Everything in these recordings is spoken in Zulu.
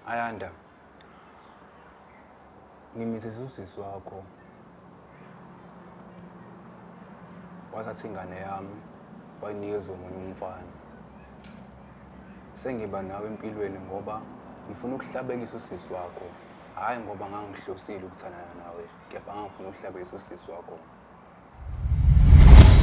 Ayanda, ngimithisa usisi wakho wathatha ingane yami wayinikeza omunye umfana. Sengiba nawe empilweni ngoba ngifuna ukuhlabekisa usisi wakho, hhayi ngoba ngangihlosile ukuthandana nawe, kepha ngangifuna ukuhlabekisa usisi wakho.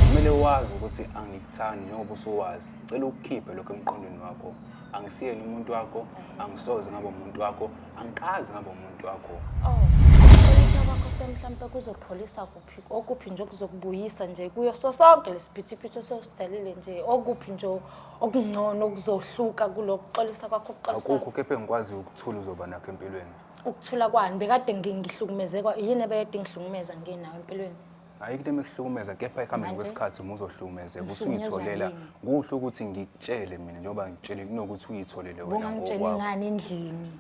kumele wazi ukuthi angikuthandi njengoba usuwazi cela ukukhiphe lokho emqondweni wakho angisiyeni umuntu wakho angisoze ngabo umuntu wakho angikazi ngabo umuntu wakho oh kwakho semhlampe kuzopholisa kuphi okuphi nje okuzokubuyisa nje kuyo so sonke lesiphithiphithi osewusidalile nje okuphi nje okungcono okuzohluka kulokuxolisa kwakho ukuxolisa akukho kepha engikwaziyo ukuthula uzoba nakho empilweni ukuthula kwani bekade ngi- ngihlukumezekwa yini ebekade ingihlukumeza nginawo empilweni hayi into emehlukumeza kepha ekuhambeni Manje? kwesikhathi uma uzohlukumezeka Ngihlukunyezwa usuyitholela yini? kuhle ukuthi ngikutshele mina njengoba ngikutshele kunokuthi uyithole-le wena bungangitsheli ngokwakho. ngani endlini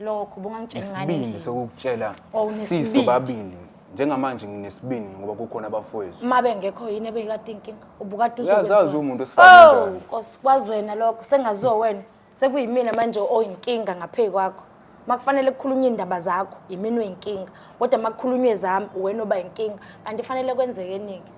lokho bungangitsheli ngani isibindi endlini sokukutshela Oh, unesibindi. siso babili njengamanje nginesibindi ngoba kukhona abafowethu uma bengekho yini ebeyikade inkinga ubukade Uyazazi umuntu osifana kanjani. nkosi kwazi wena lokho sengaziwa wena sekuyimina manje oyinkinga ngaphezu kwakho makufanele kukhulunywe indaba zakho yimina oyinkinga kodwa makukhulunywe zami wena oba yinkinga kanti fanele kwenzeke eningi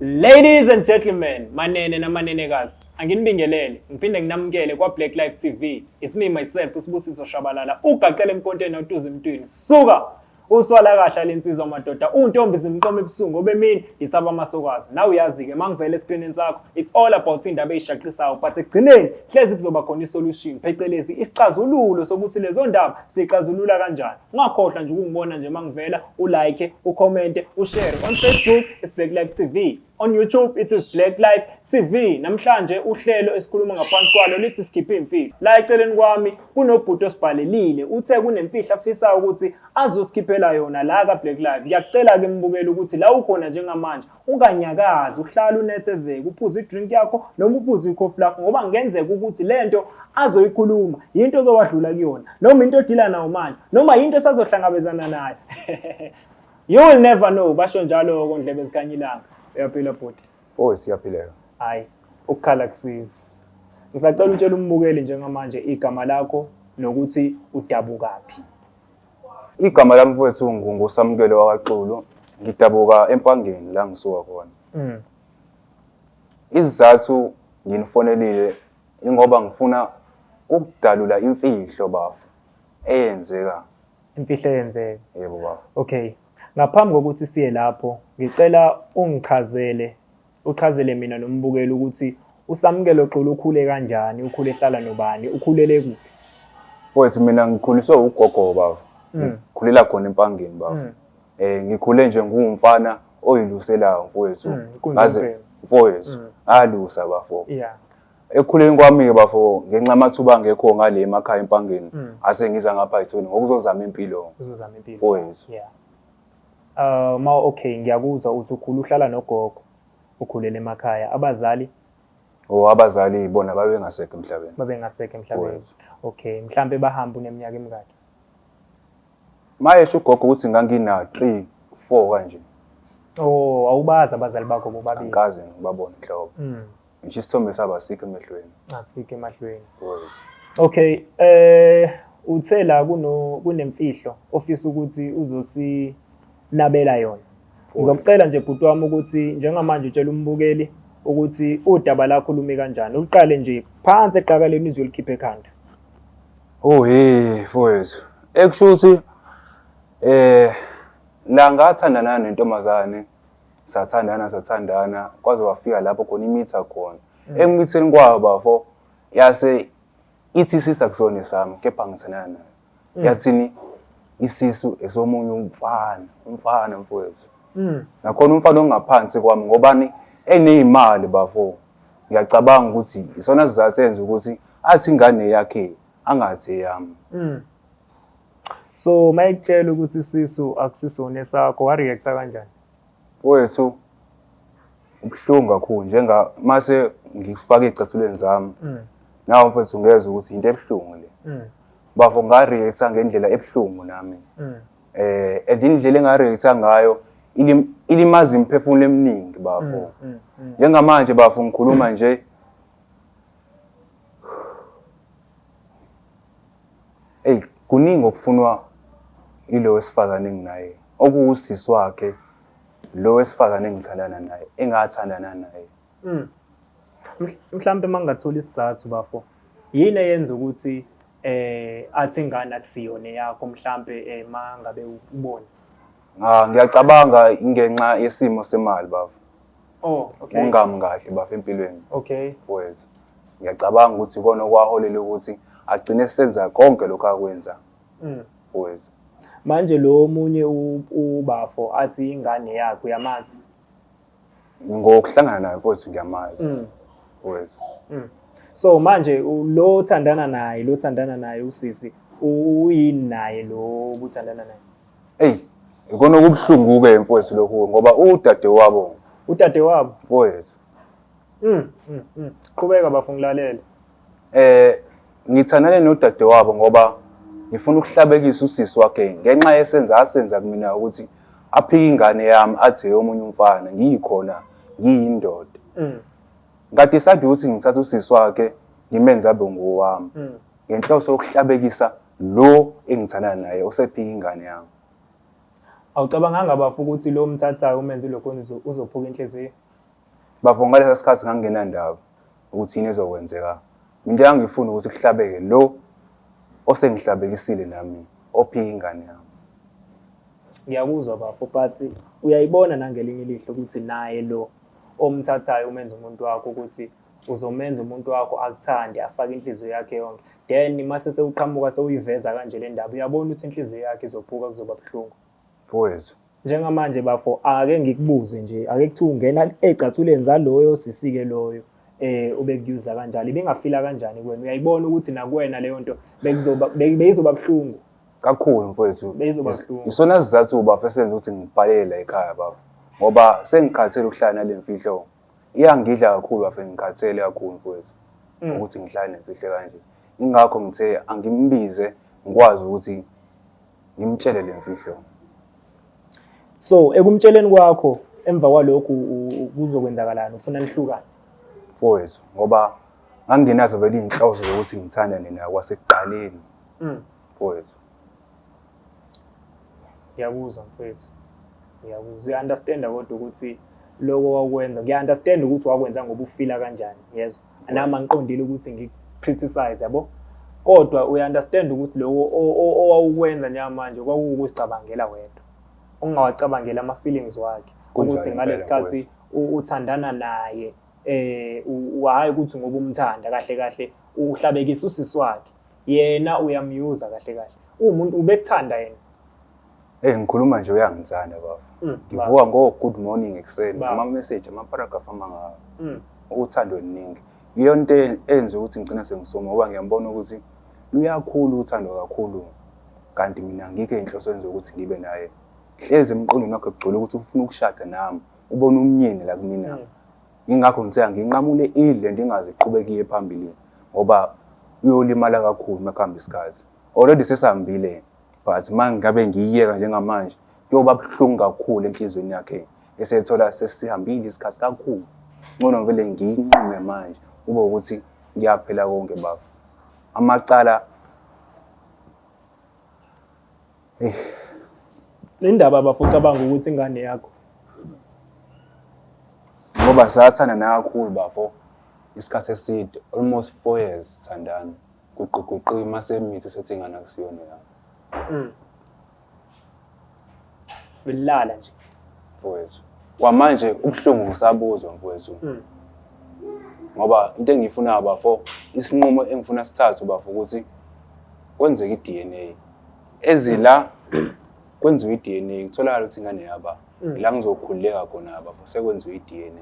Ladies and gentlemen, manene namanenekazi, anginibingelele, ngiphinde nginamukele kwa-Black Life TV. It's me myself, uSibusiso Shabalala, ugaqele emponteni otuza emntwini. Suka! Uswala kahle lensizwa madoda, untombi zimqoma ebusungu obemini yisaba amasokwazi. Nawe uyazi-ke, mangivele esikrinini sakho, it's all about indaba eyishaqisayo, but ekugcineni hlezi kuzoba khona isolution, phecelezi isixazululo sokuthi lezo ndaba siyixazulula kanjani. Ungakhohlwa nje ukungibona nje mangivela ulike, ucommente, ushare. On Facebook it's Black Life TV. On YouTube it is Black Life TV. Namhlanje uhlelo esikhuluma ngaphansi kwalo lithi sikhiphe imfihlo. La eceleni kwami kunobhuti osibhalelile. Uthe kunemfihlo afisa ukuthi azosikhiphela yona la ka Black Life. Ngiyakucela ke mbukele ukuthi la ukhona njengamanje unganyakazi uhlala unethezeke uphuze idrink yakho noma uphuze ikhofi lakho ngoba kungenzeka ukuthi le nto azoyikhuluma yinto ozowadlula kuyona noma into odila nawo manje noma yinto esazohlangabezana nayo you will never know basho njalo kondlebe zikanyilanga uyaphila bhuti oh siyaphileka hayi ukukhala kusiza ngisacela utshela umbukeli njengamanje igama lakho nokuthi udabukaphi Igama lami mfowethu nguNgusamukelo wakaXulu. Ngidabuka eMpangeni la ngisuka khona. Mm. Izizathu nginifonelile ingoba ngifuna ukudalula imfihlo bafo eyenzeka. Imfihlo eyenzeka. Yebo bafo. Okay. Ngaphambi kokuthi siye lapho, ngicela ungichazele Uchazele mina nombukeli ukuthi uSamkelo Xulu ukhule kanjani, ukhule ehlala nobani, ukhulele kuphi? Mfowethu mina ngikhuliswe ugogo baba. Mm. Ngikhulela khona empangeni baba. Mm. Eh ngikhule nje ngumfana oyiluselayo mfowethu. Mm, kunjalo. Ngaze mfowethu Mm. alusa bafo. Yeah. Ekukhuleni kwami-ke bafo ngenxa amathuba angekho ngale emakhaya empangeni Mm. ase ngiza ngapha ethweni ngokuzozama impilo. Uzozama impilo. Mfowethu. Yeah. Uh, ma okay ngiyakuzwa uthi ukhulu uhlala nogogo ukhulele emakhaya abazali o abazali bona babengasekho emhlabeni babengasekho emhlabeni okay mhlambe bahamba uneminyaka emingaki mayesho ugogo ukuthi ngangina 3 4 kanje oh awubazi abazali bakho bobabili ngikaze ngibabone nhlobo mm. ngisho isithombe sabo asikho emehlweni asike emahlweni Boys. okay eh uthe la kuno kunemfihlo ofisa ukuthi uzosinabela yona ngizokucela nje bhuti wami ukuthi njengamanje utshela umbukeli ukuthi udaba lakho lumi kanjani uliqale nje phansi eqakaleni izwe likhiphe ekhanda oh hey mfowethu ekushuthi eh la ngathandana nentombazane sathandana sathandana kwaze wafika lapho khona imitha khona mm. emitheni kwabo bafo yase ithi sisa kusone sami kepha ngithandana nayo mm. yathini isisu esomunye umfana umfana mfowethu mm. nakhona umfana ongaphansi kwami ngobani eneyimali bafo ngiyacabanga ukuthi isona sizasenza ukuthi athi ingane yakhe angathi eyami so uma ekutshela ukuthi sisu akusisona esakho wareacta kanjani wethu ubuhlungu kakhulu njenga mase ngifaka ezicathulweni zami mm. nawo mfethu ngezwe ukuthi into ebuhlungu le mm. bafo ngareacta ngendlela ebuhlungu nami mm. eh and indlela engareacta ngayo ilimaza imiphefumulo eminingi bafo njengamanje bafo ngikhuluma nje eyi kuningi okufunwa yilo wesifazane enginaye okuwusisi wakhe lo wesifazane engithandana naye engathandana naye hmm. mhlawumbe uma ngingathola isizathu bafo yini eyenza ukuthi eh athi ingane akusiyona yakho mhlambe eh, uma ngabe ubona ah ngiyacabanga ingenxa yesimo semali bafo Oh, okay. Ungami kahle bafo empilweni. Okay. Wethu. Ngiyacabanga ukuthi ikona okwaholela ukuthi agcine senza konke lokho akwenza. Mm. Wethu. Manje lo omunye ubafo athi ingane yakhe uyamazi. Ngokuhlangana naye mfowethu ngiyamazi. Mm. Wethu. Mm. So manje lo othandana naye, lo othandana naye usisi uyini naye lo obuthandana naye? Eyi, ikona okubuhlungu-ke mfowethu lokhu ngoba udadewabo Udadewabo. mfowethu. Mm, mm, mm. Qhubeka bafo ngilalele. Eh ngithandane nodadewabo ngoba ngifuna ukuhlabekisa usisi wakhe ngenxa yesenza asenza kumina ukuthi aphike ingane yami athi eyomunye umfana ngiyikhona ngiyindoda. Mm, Ngidecide ukuthi ngithathe usisi wakhe ngimenze abe ngowami mm. ngenhloso yokuhlabekisa Lo engithandana naye usephika ingane yami. Awucabanganga bafo ukuthi lo omthathayo umenze ilokhoni uzo- uzophuka inhliziyo? Bafo ngalesa sikhathi ngangingenandaba ukuthi yini ezokwenzeka. Into engangifuna ukuthi kuhlabeke lo osengihlabekisile nami ophika ingane yami. Ngiyakuzwa bafo but uyayibona nangelinye ilihlo ukuthi naye lo omthathayo umenza umuntu wakho ukuthi uzomenza umuntu wakho akuthande afake inhliziyo yakhe yonke then mase sewuqhamuka sewuyiveza kanje le ndaba uyabona ukuthi inhliziyo yakhe izophuka kuzoba buhlungu mfowethu njengamanje bafo ake ngikubuze nje ake kuthiwa ungena ecathuleni zaloyo sisike loyo eh ubekuyuza kanjalo ibingafila kanjani kuwena uyayibona ukuthi nakuwena leyo nto bekuzoba beyizoba buhlungu kakhulu mfowethu beyizoba buhlungu isona sizathu uba fesenza ukuthi ngibhalele la ekhaya bafo ngoba sengikhathele ukuhlala nalemfihlo Iyangidla kakhulu bafe ngikhathele kakhulu mfowethu Mm. ukuthi ngihlale nemfihle kanje. Ingakho ngithe angimbize ngikwazi ukuthi ngimtshele le mfihlo. So ekumtsheleni kwakho emva kwalokhu u- u- kuzokwenzakalani ufuna nihlukane. Mfowethu ngoba ngangingenazo vele izinhloso zokuthi ngithanda nina kwasekuqaleni Mm. mfowethu. ngiyakuzwa mfethu ngiyakuzwa uya-understanda kodwa ukuthi loko wakwenza ngiya-understand ukuthi wakwenza ngoba ufila kanjani yezwa nami angiqondile ukuthi ngi-criticize yabo kodwa uya-understand ukuthi loko owawukwenza njengamanje kwakuwukuzicabangela wedwa ungawacabangeli ama-feelings wakhe ukuthi ngalesikhathi uthandana naye eh hhayi ukuthi ngoba umthanda kahle kahle uhlabekisa usisi wakhe yena uyamyuza kahle kahle uwumuntu ubekuthanda yena Eh ngikhuluma nje uyangithanda bafo. Mm, Ngivuka ngo good morning ekuseni Baba. ama message ama paragraph amanga Mm. uthando oluningi. Iyona into e- enze ukuthi ngicina sengisoma ngoba ngiyambona ukuthi luyakhulu uthando kakhulu kanti mina ngikho inhloso enze ukuthi ngibe naye. Hleze emqondweni wakhe kugcwele ukuthi ufuna ukushada nami. Ubona umnyeni la kumina. Mm. Yingakho ngithe anginqamule idle ndingaze iqhubekiye phambili ngoba uyolimala kakhulu uma kuhamba isikhathi. Already sesihambile but uma ngabe ngiyiyeka njengamanje kuyoba buhlungu kakhulu enhliziyweni yakhe esethola sesihambile isikhathi kakhulu. Ngcono ngivele ngiyinqume manje kube ukuthi kuyaphela konke bafo. Amacala Le ndaba bafo ucabanga ukuthi ingane yakho. Ngoba sathanda nakakhulu bafo isikhathi eside almost four years sithandana kuquguqiwe mase mithi sethi ingane akusiyona yakho. Mm. Belala nje. Mfowethu. Kwamanje ubuhlungu ngisabuzwa mfowethu. Mm. Ngoba into engiyifunayo bafo isinqumo engifuna sithathe bafo ukuthi kwenzeke i-DNA. ezila kwenziwa i-DNA kutholakala ukuthi ingane yaba Mm. ila ngizokhululeka khona abafo sekwenziwa i-DNA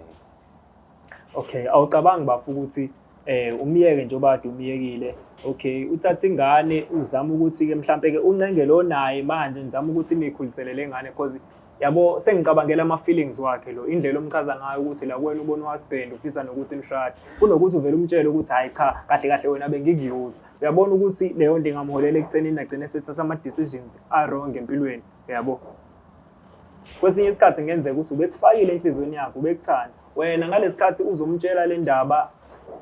okay awucabangi bafo ukuthi eh umyeke njengoba kade umyekile okay uthatha ingane uzama ukuthi ke mhlambe ke uncenge lo naye manje ngizama ukuthi nikhulisele lengane because Yabo sengicabangela ama feelings wakhe lo indlela omchaza ngayo ukuthi la kuwena ubona uHusband ufisa nokuthi nishade kunokuthi uvele umtshele ukuthi hayi cha kahle kahle wena bengikuyuza uyabona ukuthi leyo nto ingamholela ekutheni nagcine sethatha ama decisions a wrong empilweni uyabo kwesinye isikhathi ngenzeka ukuthi ubekufakile enhlizweni yakho ubekuthanda wena ngalesikhathi uzomtshela le ndaba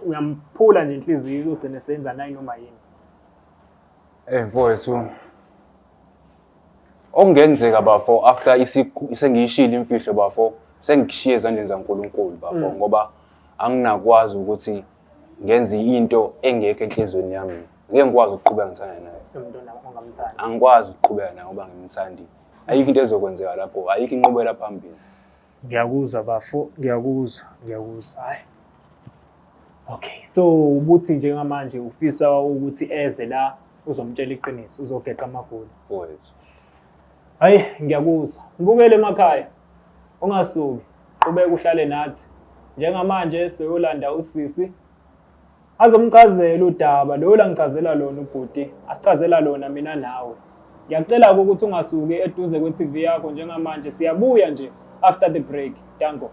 uyamphula nje inhliziyo uzogcine senza nayi noma yini eh mfowethu Okungenzeka bafo after isiku sengiyishilo imfihlo bafo sengishiye ezandleni zaNkulunkulu bafo mm. ngoba anginakwazi ukuthi ngenze into engekho enhlizweni yami ngeke ngikwazi ukuqhubeka ngithanda naye angikwazi ukuqhubeka naye ngoba ngimthandi ayikho into ezokwenzeka lapho ayikho inqubela phambili Ngiyakuzwa bafo, ngiyakuzwa, ngiyakuzwa. Hayi. Okay, so ubuthi njengamanje ufisa ukuthi eze la uzomtshela iqiniso, uzogeqa amagoli. Mfowethu. Hayi, ngiyakuzwa. Ngibukele emakhaya. Ungasuki, qhubeka uhlale nathi. Njengamanje soyolanda usisi Azomcazela udaba lo langicazela lona ubhuti, asicazela lona mina nawe. Ngiyacela ukuthi ungasuki eduze kwe-TV yakho njengamanje, siyabuya nje after the break. Danko.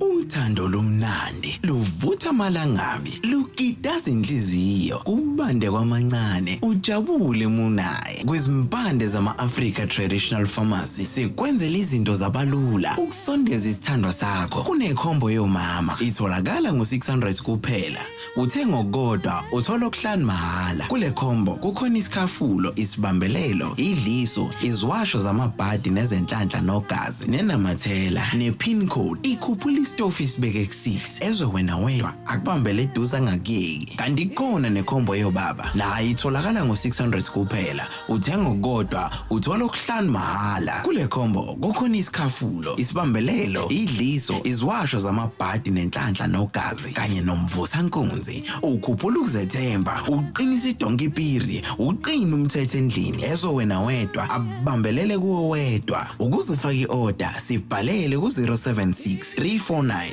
Uthando lomnandi luvutha amalangabi lukitaza inhliziyo kubande kwamancane ujabule munaye ezihlukene kwizimpande zama-Africa Traditional Pharmacy sikwenzela izinto zabalula ukusondeza isithandwa sakho kunekhombo yomama itholakala ngo-600 kuphela uthe ngokukodwa uthola okuhlanu mahhala kule khombo kukhona isikhafulo isibambelelo idliso iziwasho zamabhadi nezenhlanhla nogazi nenamathela ne-pin code ikhuphula isitofu isibeke kusisi ezwe wena wedwa akubambele eduze angakuyeki kanti ikhona nekhombo yobaba naye itholakala ngo-600 kuphela uthenga okukodwa uthola okuhlanu mahhala kule khombo kukhona isikhafulo isibambelelo idliso iziwasho zamabhadi nenhlanhla nogazi kanye nomvusankunzi ukhuphula ukuzethemba uqinisa idonkipiri uqina umthetho endlini ezo wena wedwa abambelele kuwo wedwa ukuze ufake i-oda sibhalele ku-076 349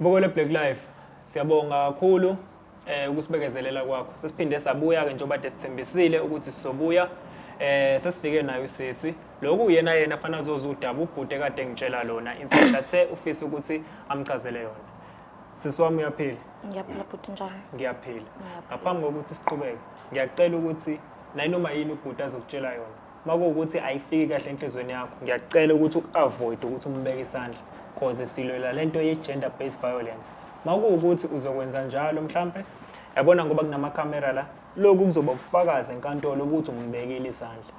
Bukele Black Life. Siyabonga kakhulu eh ukusibekezelela kwakho. Sesiphinde sabuya ke njengoba desithembisile ukuthi sizobuya eh sesifike nayo sisi lokhu uyena yena fana azoza udaba ubhuti kade ngitshela lona imfihlo athe ufisa ukuthi amchazele yona sisi wami uyaphila ngiyaphila bhuti njani ngiyaphila ngaphambi kokuthi siqhubeke ngiyacela ukuthi nayinoma yini ubhuti azokutshela yona makuwukuthi ayifiki kahle enhlizweni yakho ngiyakucela ukuthi uavoid ukuthi umbeke isandla cause silwela lento ye gender based violence makuwukuthi uzokwenza njalo mhlambe yabona ngoba kunama camera la lokhu kuzoba ubufakazi enkantolo ukuthi umbekile isandla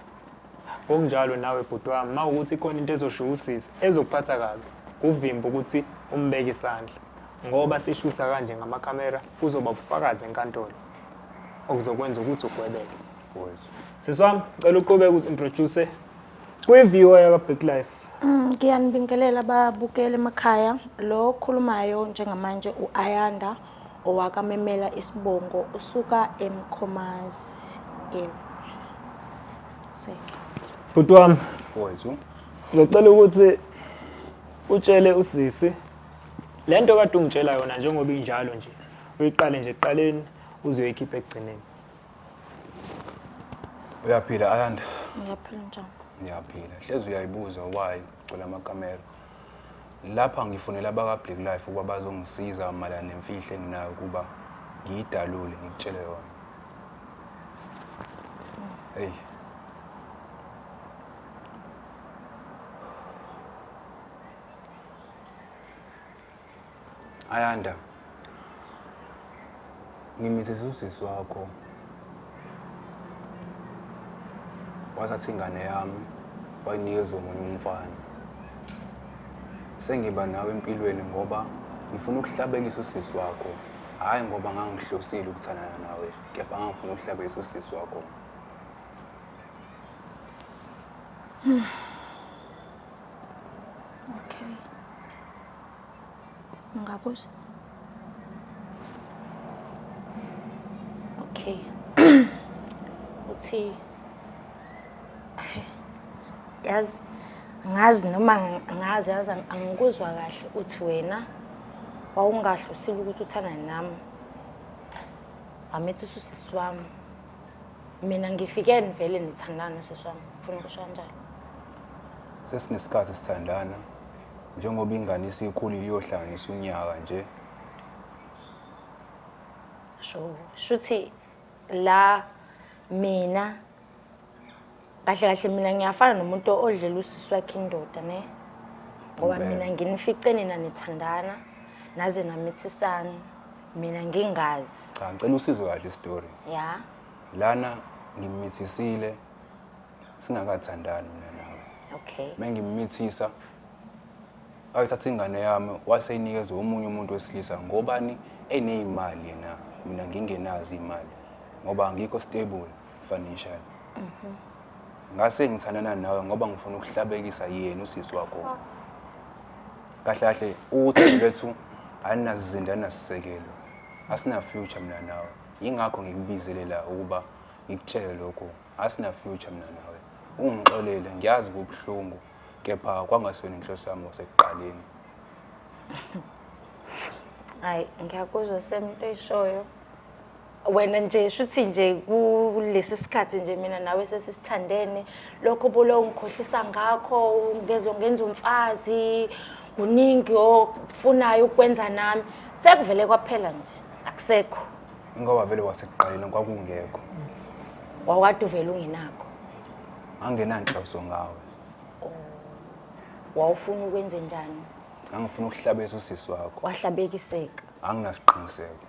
ngokunjalo nawe bhuti wami ma ukuthi ikhona into ezoshiya usisi ezokuphatha kabi kuvimba ukuthi umbeke isandla ngoba sishutha kanje ngamakhamera kuzoba ubufakazi enkantolo okuzokwenza ukuthi ugwebeke Sisi wami, ngicela uqhubeke ukuthi introduce kwi-viewer yakwa-Big Life. Mm, ngiyanibingelela babukeli emakhaya. Lo okhulumayo njengamanje u-Ayanda owakamemela isibongo usuka eMkhomazi. Yebo. Se. Bhuti wami, Wethu. ngicela ukuthi utshele usisi le nto kade ungitshela yona njengoba injalo nje uyiqale nje ekuqaleni uzoyikhipha ekugcineni Uyaphila Ayanda? Ngiyaphila njani? Ngiyaphila. Hlezi uyayibuza why kugcwele amakamera. Lapha ngifonela abaka Black Life ukuba bazongisiza malana nemfihlo enginayo ukuba ngiyidalule ngikutshele yona. Hey. Ayanda. Ngimithisa usisi wakho. Wathatha ingane yami wayinikeza omunye umfana. Sengiba nawe empilweni ngoba ngifuna ukuhlabekisa usisi wakho. Hhayi ngoba ngangihlosile ukuthandana nawe, kepha ngangifuna ukuhlabekisa usisi wakho. Okay. Ngabuza. Okay. Uthi yazi ngazi noma ngazi yazi angikuzwa kahle uthi wena wawungahle usile ukuthi uthanda nami amethisa usisi wami mina ngifike nivele nithandana usisi wami ufuna ukusho kanjalo sesinesikhathi sithandana njengoba ingane isikhulile iyohlanganisa unyaka nje sho shuthi la mina kahle kahle mina ngiyafana nomuntu odlela usisi wakhe indoda ne ngoba mina nginifice nina nithandana naze namithisana mina ngingazi cha ngicela usizwe kahle istory ya lana ngimithisile singakathandani mina nawe okay mengimithisa ayithatha ingane yami waseyinikeza omunye umuntu wesilisa ngobani eneyimali yena mina ngingenazi imali ngoba angikho stable financial mhm. ngase ngithandana nawe ngoba ngifuna ukuhlabekisa yena usisi wakho oh. kahle kahle uthi lethu aninazizinda anasisekelo asina future mina nawe yingakho ngikubizele la ukuba ngikutshele lokhu asina future mina nawe ungixolele ngiyazi kubuhlungu kepha kwangasona inhloso yami kwasekuqaleni hayi ngiyakuzwa semnto ishoyo wena nje shuthi nje kulesi sikhathi nje mina nawe sesisithandene lokho bolo ungikhohlisa ngakho ngezo ngenza umfazi kuningi ofunayo ukwenza nami sekuvele kwaphela nje akusekho Ingoba vele wasekuqaleni kwakungekho. Wawukade uvele ungenakho. Angenanhloso ngawe. Wawufuna ukwenze njani? Ngangifuna ukuhlabisa usisi wakho. Wahlabekiseka. Anginasiqiniseko.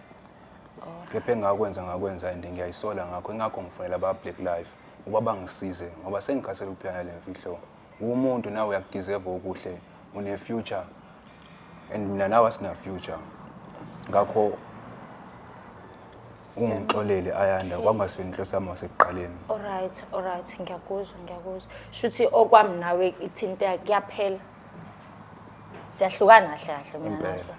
Kepha engakwenza ngakwenza and ngiyayisola ngakho ingakho ngifonela aba Black Life ukuba bangisize ngoba sengikhathele ukuphila nale mfihlo. uwumuntu nawe uyakudeserve okuhle une future and mina nawe asina future ngakho ungixolele ayanda kwangasini inhloso yami wasekuqaleni alright alright ngiyakuzwa ngiyakuzwa shuthi okwami nawe ithinte kuyaphela siyahlukana kahle kahle mina Impela. nasa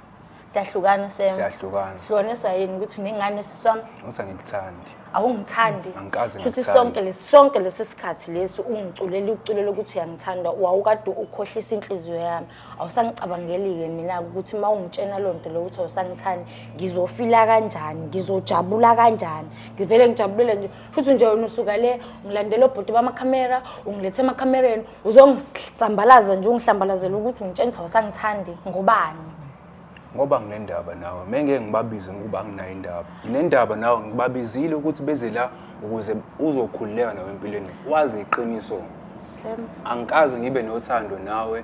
siyahlukana usem siyahlukana sihlukaniswa yini ukuthi unengane usisi wami uthi angikuthandi awungithandi angikaze futhi sonke lesi sonke lesi sikhathi lesi ungiculela uculela ukuthi uyangithanda wawukade ukhohlisa inhliziyo yami awusangicabangeli-ke mina ukuthi uma ungitshena loo nto leyo ukuthi awusangithandi ngizofila kanjani ngizojabula kanjani ngivele ngijabulele nje shuthi nje wena usuka le ungilandela obhuti bamakhamera ungilethe emakhamereni uzongisambalaza nje ungihlambalazela ukuthi ungitshengisa wasangithandi ngobani ngoba nginendaba nawe mengeke ngibabize ngokuba anginayo indaba nginendaba nawe ngibabizile ukuthi beze la ukuze uzokhululeka nawe empilweni wazi iqiniso angikaze ngibe nothando nawe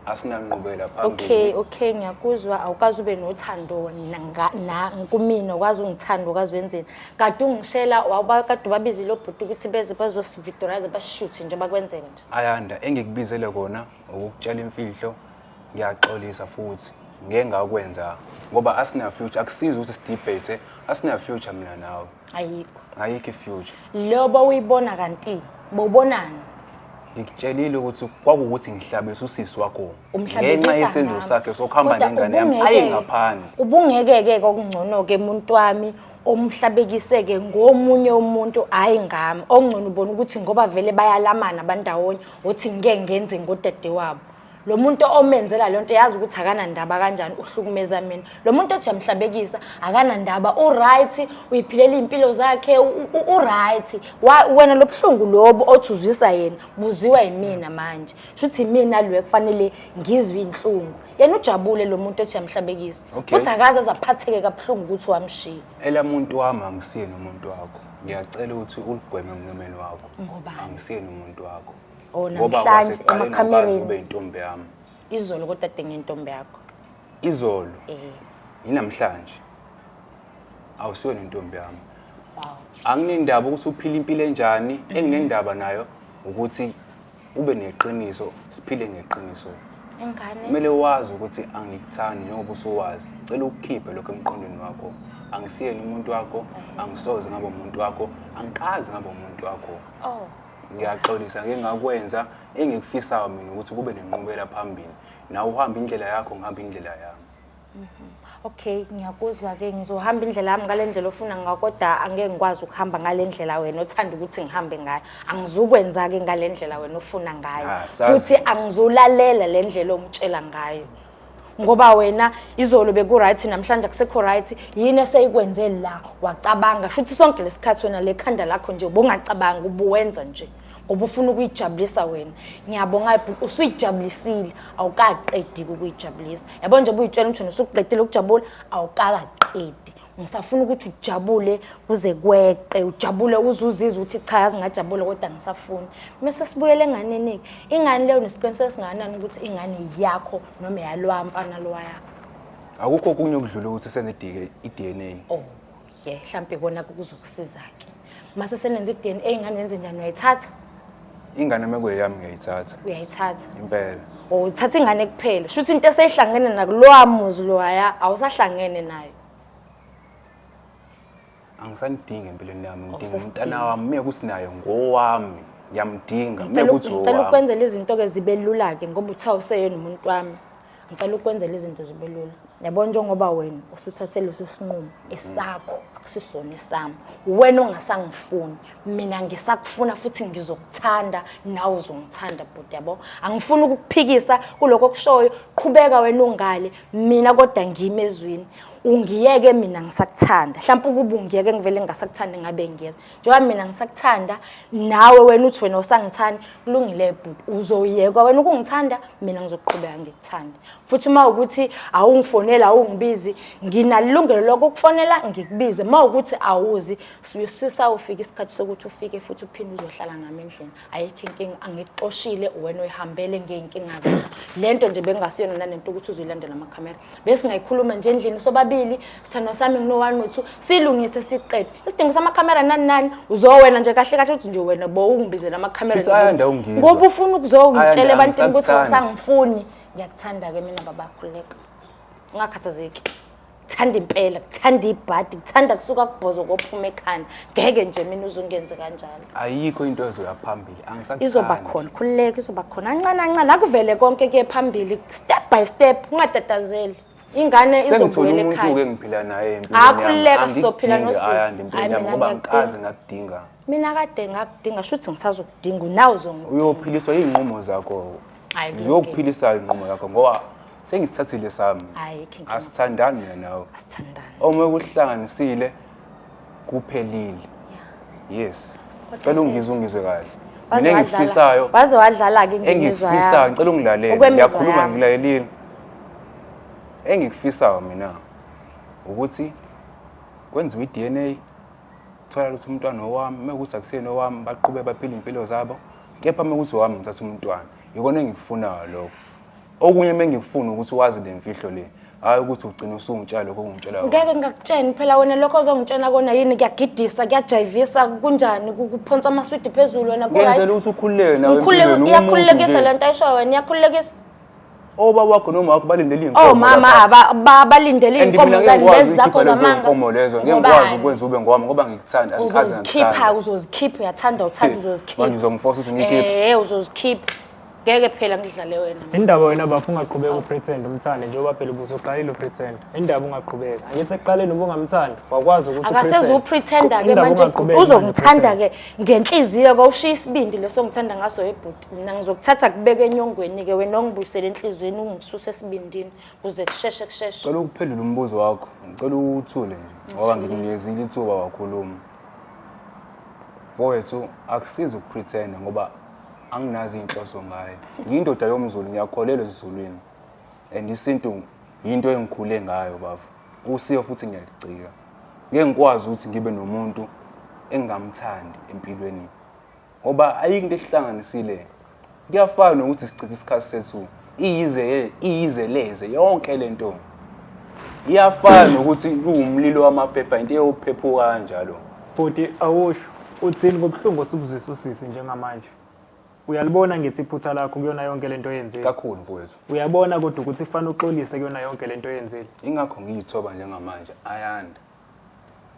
asinanqubela phambili okay okay ngiyakuzwa awukazi ube nothando na kumina ukwazi ungithanda ukwazi wenzeni kade ungishela wawuba kade ubabizile obhuti ukuthi beze bazosivictorize bashuthe nje bakwenze nje ayanda engikubizele kona ukukutshela imfihlo ngiyaxolisa futhi ngeke ngakwenza ngoba asina future akusizi ukuthi sidebate asina future mina nawe ayikho ayikho ifuture lobo uyibona kanti bobonani ngikutshelile ukuthi kwakuwuthi ngihlabisa usisi wakho ngenxa yesenzo sakhe sokuhamba nengane yami ayi ngaphandle ubungeke-ke kokungcono-ke muntu wami omhlabekiseke ngomunye umuntu hhayi ngami okungcono ubona ukuthi ngoba vele bayalamana bandawonye othi ngeke ngenze ngodade wabo lo muntu omenzela le nto yazi ukuthi akanandaba kanjani uhlukumeza mina lo muntu othi yamhlabekisa akanandaba uright uyiphilela iy'mpilo zakhe uright wena lo buhlungu lobu othi uzwisa yena buziwa yimina manje shuthi imina lwe kufanele ngizwe iy'nhlungu yena ujabule lo muntu othi yamhlabekisa futhi akaze azaphatheke kabuhlungu ukuthi wamshiya elamuntu wami angisiyeni umuntu wakho ngiyacela ukuthi uligweme emlomeni wakho angisiyeni umuntu wakho Oh, ngoba namhlanje kwaseqaleni emakhamereni. awukaze ube intombi yami izolo kodwa dinga intombi yakho izolo eh yinamhlanje awusiyona intombi yami wow anginendaba ukuthi uphila impilo enjani enginendaba nayo ukuthi ube neqiniso siphile ngeqiniso ingane kumele wazi ukuthi angikuthandi njengoba usuwazi cela ukukhiphe lokho emqondweni wakho angisiyeni umuntu wakho angisoze ngabe umuntu wakho angiqazi ngabe umuntu wakho oh ngiyaxolisa ngeke ngakwenza engikufisayo mina ukuthi kube nenqubela phambili nawe uhamba indlela yakho ngihamba indlela yami mhm. okay ngiyakuzwa ke ngizohamba indlela yami ngale ndlela ofuna ngayo kodwa angeke ngikwazi ukuhamba ngale ndlela wena othanda ukuthi ngihambe ngayo angizukwenza-ke ngale ndlela wena ofuna ngayo ah, futhi angizulalela le ndlela ongitshela ngayo ngoba wena izolo beku-right namhlanje akusekho right yini eseyikwenze la wacabanga sho ukuthi sonke lesikhathi wena lekhanda lakho nje ubungacabangi ubuwenza nje ngoba ufuna ukuyijabulisa wena ngiyabonga usuyijabulisile awukaqedi ukuyijabulisa yabo nje ubuyitshela ukuthi wena usukuqedile ukujabula awukakaqedi ngisafuna ukuthi ujabule kuze kweqe ujabule uze uzizwe ukuthi cha yazi ngajabule kodwa ngisafuni mese sibuyele enganeni-ke ingane leyo nesiqiniseko esingakanani ukuthi ingane yakho noma yalowa mfana lowa yakho akukho okunye okudlula ukuthi senze i-dna oh ye mhlawumpe kona kuzokusiza-ke mase senenza i-dna ingane yenze njani uyayithatha ingane uma kuyeyami ngiyayithatha uyayithatha impela or uthatha ingane kuphela sho ukuthi into eseyihlangene nakulowa muzi loya awusahlangene nayo angisanidingi empilweni yami ngidinga Awusasdingi. umntana wami mina kusinayo ngowami ngiyamdinga mina Ngicela u- ngicela kuzowa ukwenzela izinto-ke zibe lula-ke ngoba uthiwa useyena umuntu wami ngicela ukwenzela izinto zibe lula yabona njengoba wena usuthathe leso sinqumo esakho akusisona esami wena ongasangifuni mina ngisakufuna futhi ngizokuthanda nawe uzongithanda bhuti yabo angifuni ukukuphikisa kuloko okushoyo qhubeka wena ungale mina kodwa ngime ezwini ungiyeke mina ngisakuthanda mhlawumbe ukuba ungiyeke ngivele ngingasakuthandi ngabe ngiyeza njengoba mina ngisakuthanda nawe wena uthi wena usangithanda kulungile bhuti uzoyekwa wena ukungithanda mina ngizoqhubeka ngikuthande futhi uma ukuthi awungifonela awungibizi nginalilungelo lokukufonela ngikubize uma ukuthi awuzi sisawufika isikhathi sokuthi ufike futhi uphinde uzohlala nami endlini ayikho inkinga angikuxoshile wena uyihambele ngey'nkinga zakho le nto nje bengingasiyona nanento ukuthi uzoyilandela amakhamera besingayikhuluma nje endlini sobabili sithandwa sami ngino-one no-two silungise siqede isidingo samakhamera nani nani uzowena nje kahle kahle ukuthi nje wena bo ungibizela amakhamera Futhi ayanda ungizwa. ngoba ufuna ukuzongitshela Ayanda, ebantwini ukuthi angisakuthandi. awusangifuni ngiyakuthanda-ke mina babakhululeka ungakhathazeki kuthanda impela kuthanda ibhadi kuthanda kusuka kubhozo kophuma ekhanda ngeke nje mina uzungenze kanjalo ayikho into ezoya phambili angisakuthandi izoba khona khululeka izoba khona ancane ancane akuvele konke kuye phambili step by step ungatatazeli ingane izobuyela ekhaya ke ngiphila naye empilweni akhululeka sizophila nosisi hayi mina ngoba ngikaze ngakudinga mina kade ngakudinga shuthi ngisazokudinga nawe uzongidinga uyophiliswa izinqumo zakho uyokuphilisa izinqumo yakho ngoba sengisithathile sami Hayi, King Kama. asithandani mina nawe asithandane uma kuhlanganisile kuphelile yes cela ungizwe ungizwe kahle Waze mina wadlala- engikufisayo waze wadlala-ke indima ezwa engikufisayo yami. ngicela ungilalele Okwemizwa ngiyakhuluma yami. ngilalelile engikufisayo mina ukuthi kwenziwe i-dna thola ukuthi umntwana owami uma ukuthi akusiyena owami baqhube baphile iy'mpilo zabo kepha uma ukuthi owami ngithatha umntwana yikona engikufunayo lokho okunye mengikufuna ukuthi wazi le mfihlo le hayi ukuthi ugcina usungitshela lokho ongitshela kona. ngeke ngakutsheni phela wena lokho ozongitshena kona yini kuyagidisa kuyajayivisa kunjani ku- kuphonsa amaswidi phezulu wena ngenzela ku-right ukuthi ukhululeke nawe Ngikhululeke- empilweni, iyakhululekisa uwumuntu le nje. nto ayishoyo wena iyakhululekisa obaba wakho noma wakho balindele iy'nkomo oh mama lapha. aba- ba- balindele And mina iy'nkomo zani ngeke lezi ngikwazi zakho ukukhipha lezo zamanga y'nkomo lezo ngeke ngikwazi Ngobani? ukwenza ube ngoba ngoba ngikuthanda angikaze uzozikhipha ngikuthande. uzozikhipha uyathanda uthanda Manje uzozikhipha uzongifosa ukuthi ngiyikhiphe Eh, uzozikhipha ngeke phela ngidlale wena indaba wena bafu ungaqhubeka upretend umthande njengoba phela ubusuqalile upretend indaba ungaqhubeka angithi ekuqaleni ubungamthandi wakwazi ukuthi akaseze upretenda ke manje uzomthanda ke ngenhliziyo kawushiya isibindi leso ngithanda ngaso ebhuti mina ngizokuthatha kubeke enyongweni ke wena ongibuyisele enhlizweni ungisuse esibindini kuze kusheshe kusheshe cela ukuphendula umbuzo wakho ngicela uthule nje ngoba ngikunikeza ithuba wakhuluma mfowethu akusizi ukupretenda ngoba anginazi inhloso ngayo ngiyindoda yomzulu ngiyakholelwa ezizulwini and isintu yinto engikhule ngayo bafo usiyo futhi ngiyalicika ngeke ngikwazi ukuthi ngibe nomuntu engingamthandi empilweni ngoba ayikho into ehlanganisile kuyafana nokuthi sichithe isikhathi sethu iyize iyizeleze yonke le nto iyafana nokuthi kuwumlilo wamaphepha into eyophephuka kanjalo bhuti awusho uthini ngobuhlungu osubuzisa usisi njengamanje uyalibona ngithi iphutha lakho kuyona yonke le nto oyenzile kakhulu mfowethu uyabona kodwa ukuthi kufanele uxolise kuyona yonke le nto oyenzile ingakho ngiyithoba njengamanje ayanda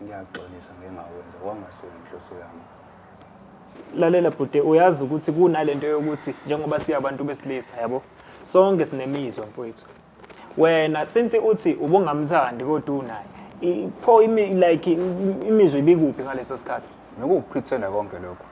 ngiyaxolisa ngengawenza kwangasona inhloso yami lalela bhuti uyazi ukuthi kunalento yokuthi njengoba siyabantu besilisa yabo sonke sinemizwa mfowethu wena since uthi ubungamthandi kodwa unaye i- pho imi like im- imizwa ibikuphi ngaleso sikhathi nokuwuphithela konke lokho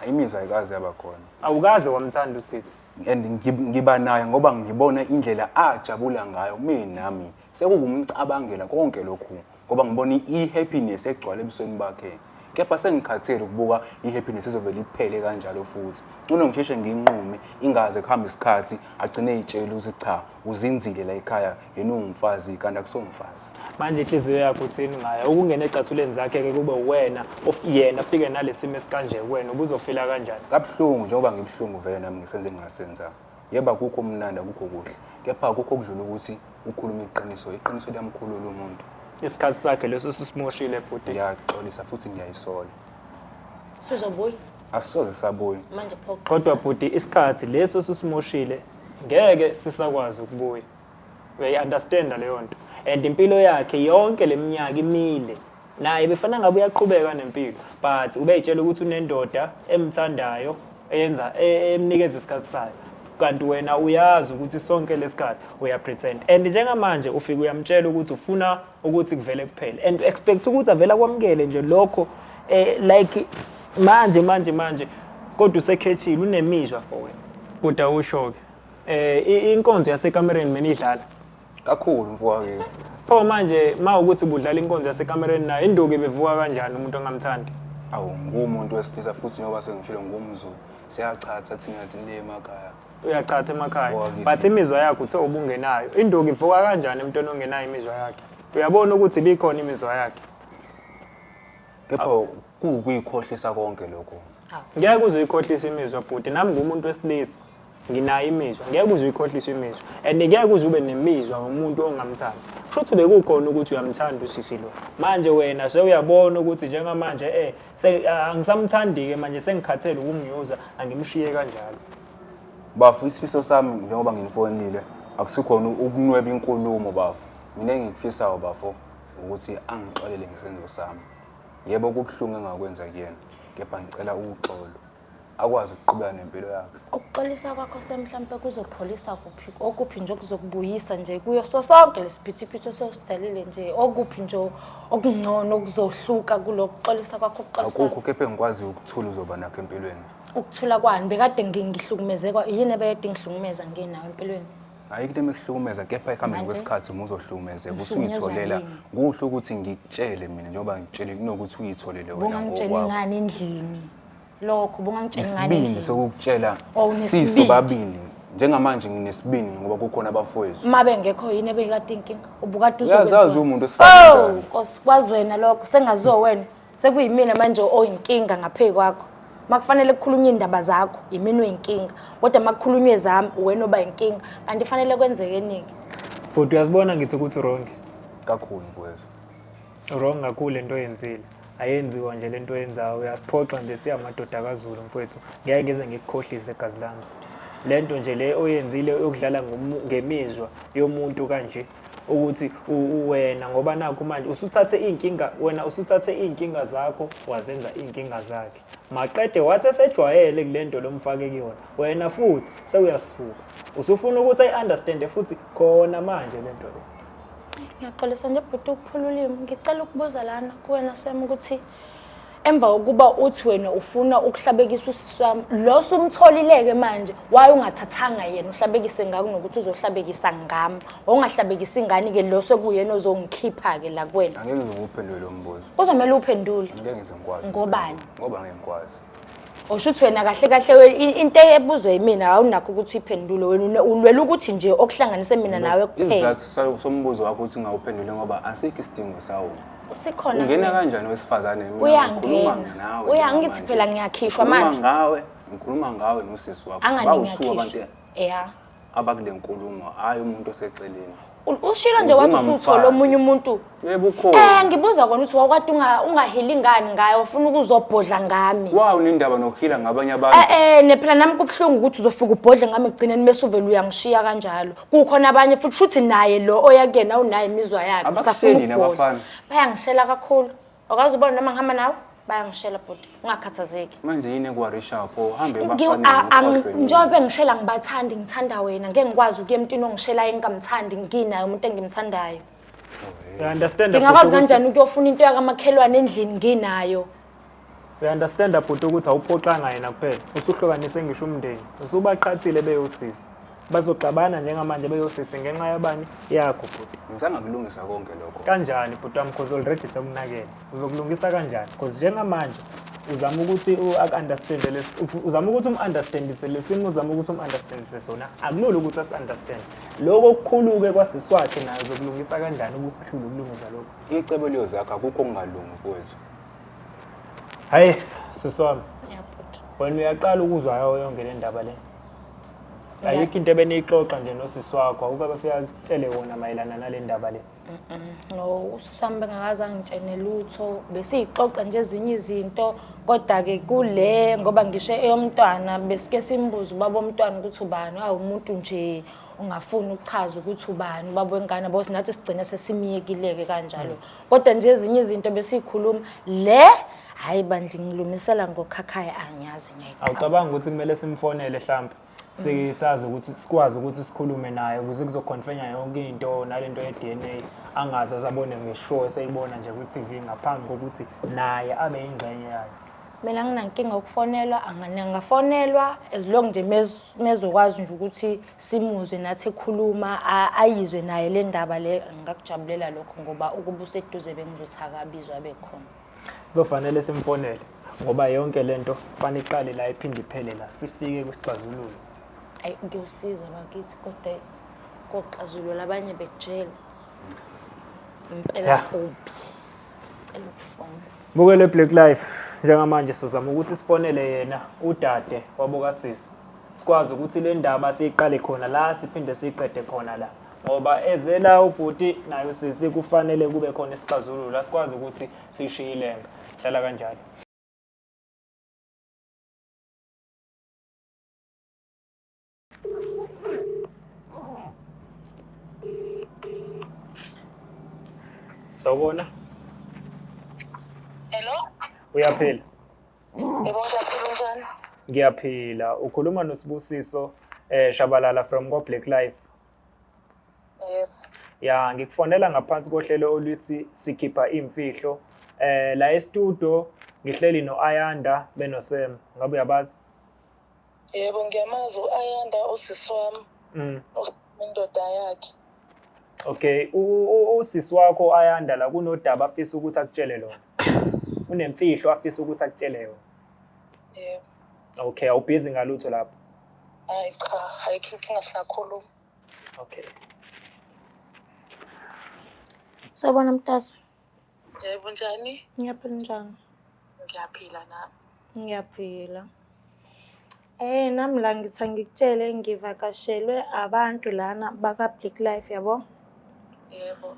imizwa ayikaze yaba khona awukaze wamthanda usisi and ngib- ngiba naye ngoba ngibona indlela ajabula ngayo mina nami Sekukumcabangela konke lokhu ngoba ngibona i-happiness egcwala ebusweni bakhe. Kepha sengikhathele ukubuka i-happiness ezovele iphele kanjalo futhi. Ngcono ngisheshe nginqume ingaze kuhambe isikhathi agcine eyitshela ukuthi cha uzinzile la ekhaya yena ungumfazi kanti akusomfazi. Manje inhliziyo yakho uthini ngayo? Ukungena ecathuleni zakhe-ke kube uwena of yena afike nalesimo esikanje kuwena ubuzofila kanjani? Kabuhlungu njengoba ngibuhlungu vele nami ngisenze ngingasenza. Yebo akukho mnandi akukho kuhle kepha akukho okudlula ukuthi ukhuluma iqiniso iqiniso liyamkhulula umuntu isikhathi sakhe leso sisimoshile bhuti ngiyaxolisa futhi ngiyayisola sizobuya asoze sabuya manje phoqa kodwa bhuti isikhathi leso sisimoshile ngeke sisakwazi ukubuya uyayi-understanda leyo nto and impilo yakhe yonke le minyaka imile naye befana ngabe uyaqhubeka nempilo but ubeyitshela ukuthi unendoda emthandayo eyenza e, emnikeza isikhathi sayo kanti wena uyazi ukuthi sonke lesikhathi uyapretend and njengamanje ufike uyamtshela ukuthi ufuna ukuthi kuvele kuphele and expect ukuthi avela kwamukele nje lokho eh like manje manje manje kodwa usekhethile unemizwa for wena kodwa usho ke Eh i- inkonzo yasekamereni mina idlala. kakhulu mfokakithi Pho manje ma ukuthi budlala inkonzo yasekamereni naye induku bevuka kanjani umuntu ongamthandi. awu ngumuntu wesilisa futhi njengoba sengishilo ngumzulu siyachatha thina le emakhaya Uyachatha emakhaya. Mfokakithi. But imizwa yakho uthe ubungenayo. Induku ivuka kanjani emntwana ongenayo imizwa yakhe? Uyabona ukuthi bikhona imizwa yakhe. kepha kuwukuyikhohlisa konke lokho Ngeke uzoyikhohlisa imizwa bhuti nami ngumuntu wesilisa. nginayo imizwa ngeke uze uyikhohlise imizwa and ngeke uze ube nemizwa ngomuntu ongamthandi kusho ukuthi bekukhona ukuthi uyamthanda usisi lo manje wena sewuyabona ukuthi njengamanje eh angisamthandi-ke manje sengikhathele ukumnyuza angimshiye kanjalo bafo isifiso sami njengoba nginifonile akusikhona ukunweba inkulumo bafo mina engikufisayo bafo ukuthi angixolele ngesenzo sami yebo kubuhlungu engakwenza kuyena kepha ngicela uxolo akwazi ukuqhubeka nempilo yakhe ukuxolisa kwakho semhlampe kuzopholisa kuphi okuphi nje okuzokubuyisa nje kuyo so sonke lesiphithiphithi ososidalile nje okuphi nje okungcono okuzohluka kulokuxolisa kwakho ukuxolisa akukho kepha engikwazi ukuthula uzoba nakho empilweni ukuthula kwani bekade ngihlukumezekwa yini ebekade ngihlukumeza nginawo empilweni hayi into emekuhlukumeza kepha ekuhambeni kwesikhathi uma uzohlukumezeka usuyitholela kuhle ukuthi ngikutshele mina njengoba ngikutshele kunokuthi uyitholele wena ngokwakho ngani endlini lokho bungangitshela ngani isibindi endlini sokukutshela Oh, unesibindi. siso babili njengamanje nginesibindi ngoba kukhona abafowethu uma bengekho yini ebekade inkinga ubukade uyazazi uzokwenziwa. umuntu Oh, esifazane Nkosi, kwazi wena lokho sengaziwa wena sekuyimina manje oyinkinga ngaphezu kwakho makufanele kukhulunywe indaba zakho yimina oyinkinga kodwa makukhulunywe zami wena oba yinkinga kanti fanele kwenzeke eningi Bhuti uyazibona ngithi ukuthi wrong. kakhulu kwezwa wrong kakhulu lento oyenzile ayenziwa nje lento oyenzayo uyaphoxa nje siyamadoda kaZulu mfowethu ngeke ngize ngikukhohlise gazi lami lento nje le oyenzile yokudlala ngemizwa yomuntu kanje ukuthi wena ngoba nakho manje usuthathe inkinga wena usuthathe inkinga zakho wazenza inkinga zakhe maqede wathi esejwayele kulento lomfake kuyona wena futhi sewuyasuka usufuna ukuthi ayi understand futhi khona manje lento le ngiyaxolisa nje bhuti ukuphula ulimi ngicela ukubuza lana kuwena sem ukuthi emva kokuba uthi wena ufuna ukuhlabekisa usisi wami lo sumtholileke manje waye ungathathanga yena uhlabekise ngako nokuthi uzohlabekisa ngami ongahlabekisa ingane-ke lo sekuyena ozongikhipha-ke la kuwena angeke ngizokuphendule lo mbuzo kuzomele uphendule ngeke ngizengikwazi ngobani ngoba ngeke ngikwazi Usho ukuthi wena kahle kahle we- i- into ebuzwe yimina awunakho ukuthi uyiphendule wena une- ulwela ukuthi nje okuhlanganise mina nawe kuphela isizathu sa- sombuzo wakho ukuthi ngawuphendule ngoba asikho isidingo sawo sikhona ungena kanjani wesifazane Mina Uyangena. ngikhuluma nawe Uya- njengamanje. ngithi phela ngiyakhishwa Ngikhuluma manje. ngawe ngikhuluma ngawe nosisi wakho angani Bawuthuka ngiyakhishwa abantu ya abakule nkulumo hhayi umuntu oseceleni U- ushilo nje wathi Uzimamfaki. usuthole omunye umuntu yebo um ukhona ngibuza kona ukuthi wawukade unga- ungahili ngani ngayo wafuna ukuzobhodla ngami wawu nendaba nokuhila ngabanye abantu e-e nephela nami kubuhlungu ukuthi uzofika ubhodle ngami ekugcineni bese uvele uyangishiya kanjalo kukhona abanye futhi shuthi naye lo oya kuyena unayo imizwa yakhe Abakusheli usafuna yini ukubhodla. abafana? bayangishela kakhulu Awukazi ubona noma ngihamba nawe bayangishela bhuti ungakhathazeki manje yini ekuwarishayo pho uhambe Ngi- bafane a- ang- nokhohlwe yini? njengoba bengishela ngibathandi ngithanda wena ngeke ngikwazi ukuya emntwini ongishelayo engingamthandi nginayo umuntu engimthandayo I understand ngingakwazi bhuti ukuthi- kanjani ukuyofuna into yakamakhelwane endlini nginayo I understand bhuti ukuthi awuphoxanga yena kuphela usuhlukanise ngisho umndeni usubaqhathile beyosisi bazoxabana njengamanje beyosisi ngenxa yabani yakho bhuti ngisangakulungisa konke lokho kanjani bhuti wami cause already sekunakele uzokulungisa kanjani cause njengamanje uzama ukuthi u-understand uzama ukuthi umu-understandise lesimo uzama ukuthi umu-understandise sona akulula ukuthi asi-understand loko okukhulu-ke kwasiswakhe nayo zokulungisa kanjani ukuthi ahlule ukulungisa lokho icebo liyozakho akukho okungalungi mfowethu hhayi siswami wena uyaqala ukuzwa yawo yonke le ndaba le ayikho into ebeniyixoxa nje nosisi wakho ukuba bafika kutshele wona mayelana nale ndaba le no ususami bengakaze angitshene lutho besiyixoxa nje ezinye izinto kodwa-ke kule ngoba ngisho eyomntwana besike simbuze ubaba omntwana ukuthi ubani awumuntu nje ungafuni ukuchaza ukuthi ubani ubaba wengane bo sinathi sigcine sesimiyekile-ke kanjalo mm. kodwa nje ezinye izinto besiyikhuluma le hayi bandla ngilumisela ngokhakhaya angiyazi ngeke awucabanga ukuthi kumele simfonele mhlawumbe sisazi ukuthi sikwazi ukuthi sikhulume naye ukuze kuzoconfenya yonke into nalento ye-DNA angaze asabone ngeshow eseyibona nje kwi-TV ngaphambi kokuthi naye abe yingxenye yayo mina nginankinga ukufonelwa angafonelwa as long nje mezokwazi nje ukuthi simuzwe nathi ekhuluma ayizwe naye le ndaba le ngakujabulela lokho ngoba ukuba useduze bengizothi akabizwa bekhona kuzofanele simfonele ngoba yonke le nto fana iqale la iphinde iphele la sifike kwisixazululo ayi kuyosiza bakithi kodwa koxazululo abanye bejele impela kubi sicela ukufona bukele black life njengamanje sizama ukuthi sifonele yena udade wabokasisi sikwazi ukuthi le ndaba siyiqale khona la siphinde siyiqede khona la ngoba ezela ubhuti naye usisi kufanele kube khona isixazululo asikwazi ukuthi sishiye ilenga hlala kanjalo sawubona hello uyaphila Yebo ngiyaphila unjani? Ngiyaphila. Ukhuluma noSibusiso eh Shabalala from Go Black Life. Yebo. Ya ngikufonela ngaphansi kohlelo oluthi sikhipha imfihlo. Eh la e-studio ngihleli no-Ayanda benoSam. Ngabe uyabazi? yebo ngiyamazi u-ayanda usisi wami mm. indoda yakhe okay usisi wakho u-ayanda la kunodaba afisa ukuthi akutshele lona unemfihlo afisa ukuthi akutshele yona yebo okay awubhizi ngalutho lapho hayi cha ayikho inkinga singakhuluma okay Sawubona mtasa. Yebo njani? Ngiyaphila njani? Ngiyaphila nami. Ngiyaphila. Eh nami la ngithi ngikutshele ngivakashelwe abantu lana baka Black Life yabo? Yebo.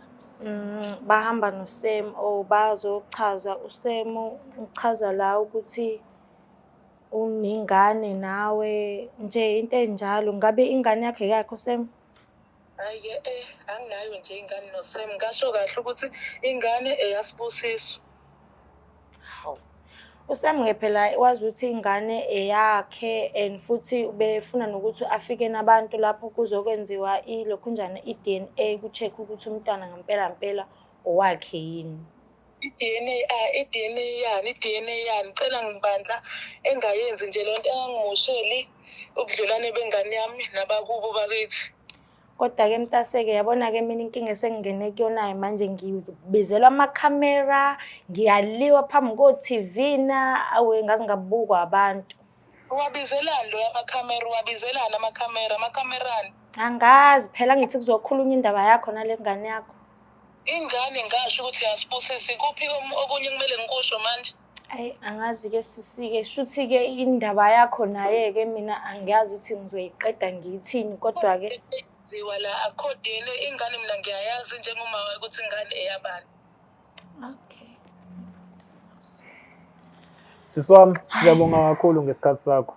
Mm, bahamba noSem or oh, bazochaza uSem uchaza la ukuthi unengane nawe nje into enjalo ngabe ingane yakhe yakho Sem? Hayi-ke eh anginayo nje ingane noSam ngasho kahle ukuthi ingane eyasibusiso. Hawu. USam ngephela wazi ukuthi ingane eyakhe and futhi befuna nokuthi afike nabantu lapho kuzokwenziwa ilokhunjana i-DNA ku-check ukuthi umntwana ngempela ngempela owakhe yini. i-DNA ah, i-DNA yani i-DNA yani cela ngibandla engayenzi nje lento engangimosheli ubudlelwane bengane yami nabakubo bakithi kodwa-ke mntaseke yabona-ke mina inkinga esengingene kuyonayo manje ngibizelwa amakhamera ngiyaliwa phambi ko-tv na awe ngaze ngabukwa abantu uwabizelani loyo amakhamera uwabizelani amakhamera amakhamerani angazi phela ngithi kuzokhulunywa indaba yakho nale ngane yakho Ingane ngasho ukuthi yasibusisi kuphi kom- okunye kumele ngikusho manje. Ayi angazi ke sisike shuthi ke indaba yakho naye ke mina angiyazi ukuthi ngizoyiqeda ngiyithini kodwa ke Ziwa la akho DNA ingane mina ngiyayazi njengomama wayo ukuthi ingane eyabani. okay. Sisi wami siyabonga kakhulu ngesikhathi sakho.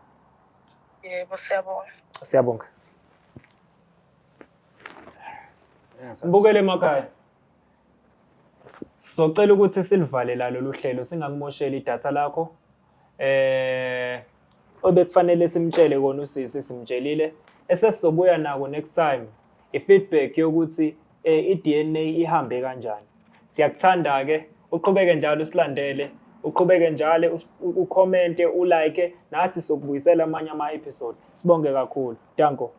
Yebo siyabonga. Siyabonga. Mbukele emakhaya. Socela ukuthi silivale la lolu hlelo singakumosheli idatha lakho. Eh obekufanele simtshele kona usisi simtshelile esesizobuya nako next time i-feedback yokuthi eh, i-DNA ihambe kanjani. siyakuthanda-ke uqhubeke njalo usilandele uqhubeke njalo ukhomente ulike nathi sokubuyisela amanye ama-episode sibonge kakhulu danko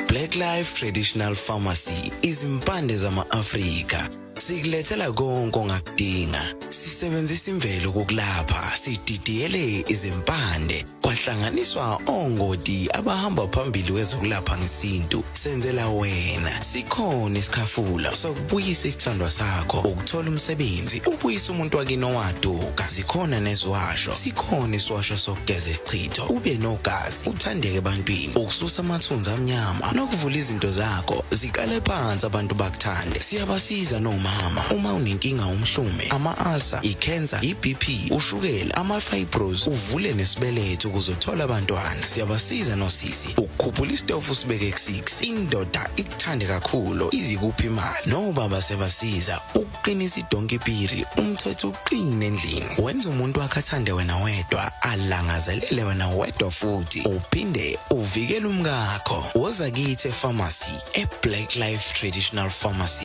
Black Life Traditional Pharmacy izimpande zama-Afrika sikulethela konke ongakudinga sisebenzisa imvelo kokulapha sididiyele izimpande kwahlanganiswa ongoti abahamba phambili wezokulapha ngesintu senzela wena sikhona isikhafula sokubuyisa isithandwa sakho ukuthola umsebenzi ubuyisa umuntu wakini owaduka sikhona neziwasho sikhona isiwasho sokugeza isichitho ube nogazi uthandeke ebantwini ukususa amathunzi amnyama nokuvula izinto zakho ziqale phansi abantu bakuthande siyabasiza nomama uma unenkinga umhlume ama-ulcer ikhensa ibp ushukela amafibros uvule nesibeletho ukuzothola abantwana siyabasiza nosisi ukukhuphula isitofu sibeke ku-6 indoda ikuthande kakhulu izikuphi imali nobaba sebasiza ukuqinisa idonki piri umthetho uqine endlini wenza umuntu wakhe athande wena wedwa alangazelele wena wedwa futhi uphinde uvikele umkakho woza kithi epharmacy eblack life traditional pharmacy